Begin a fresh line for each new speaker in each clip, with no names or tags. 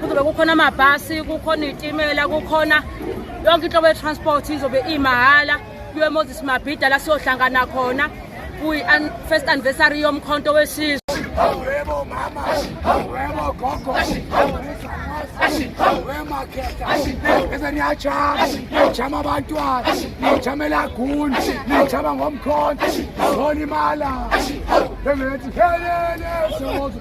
kuzobe kukhona amabhasi kukhona iy'timela kukhona yonke inhlobo ye-transport izobe imahhala kuyo emoses mabhida la siyohlangana khona kuyi-first anniversary yomkhonto wesizwe Wemo
mama, wemo gogo, wema khehla, bese niyajama, niyajama abantwana, niyajama elaguni, niyajama ngomkhonto, zona imala, bengithi helele sozo.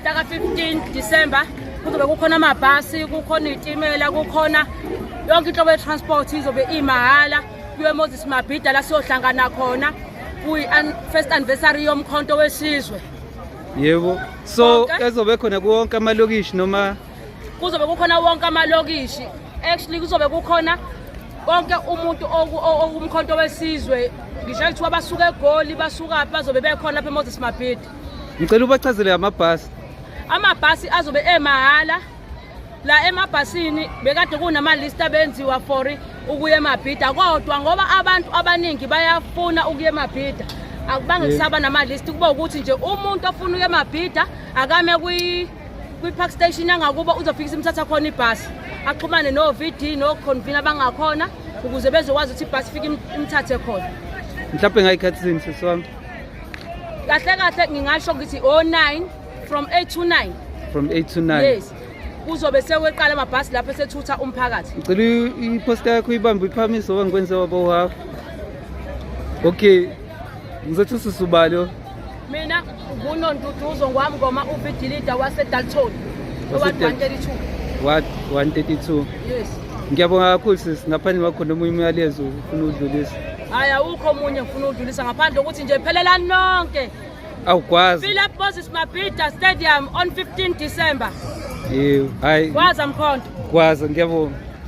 Mhlaka 15 December kuzobe kukhona amabhasi, kukhona izitimela, kukhona yonke inhlobo ye-transport izobe imahhala kuyo Moses Mabhida la siyohlangana khona kuyi first anniversary yomkhonto wesizwe. Yebo.
So ezobe khona kuwonke amalokishi noma kuzobe kukhona
wonke amalokishi actually kuzobe kukhona konke umuntu umkhonto wesizwe ngisho kuthiwa basuka egoli basukaphi bazobe bekhona lapha emoses mabhidi ngicela ubachazele
amabhasi amabhasi
azobe emahhala la emabhasini bekade kunamalista benziwa for ukuya emabhida kodwa ngoba abantu abaningi bayafuna ukuya emabhida akubange kusaba namalist kuba ukuthi nje umuntu ofuna ukuya emabhida akame kwi kwi-park station yangakubo uzofikisa imthatha khona ibhasi axhumane no-vd no-convene abangakhona ukuze bezokwazi ukuthi ibhasi ifike imthathe khona mhlawumbe ngayikhathi
zini sisi wami kahle
kahle ngingasho ngithi o-nine from eight to nine from eight to nine
yes kuzobe
seweqala amabhasi lapho esethutha umphakathi ngicela iposta
yakho uyibambe uyiphakamise oba ngikwenze waba uhafu okay ngizothi ususubalo mina
ngunonduduzo ngwamngoma uvidilida wasedalton owadwantela
ithuba 132 yes
ngiyabonga kakhulu
sis ngaphandle kwakhona omunye umyalezo ufuna udlulisa hayi awukho
omunye ngifuna udlulisa ngaphandle ukuthi nje phelelani nonke awukwazi
philip moses
mabhida stadium on 15 december yebo hayi kwaza mkhonto
kwaza
ngiyabonga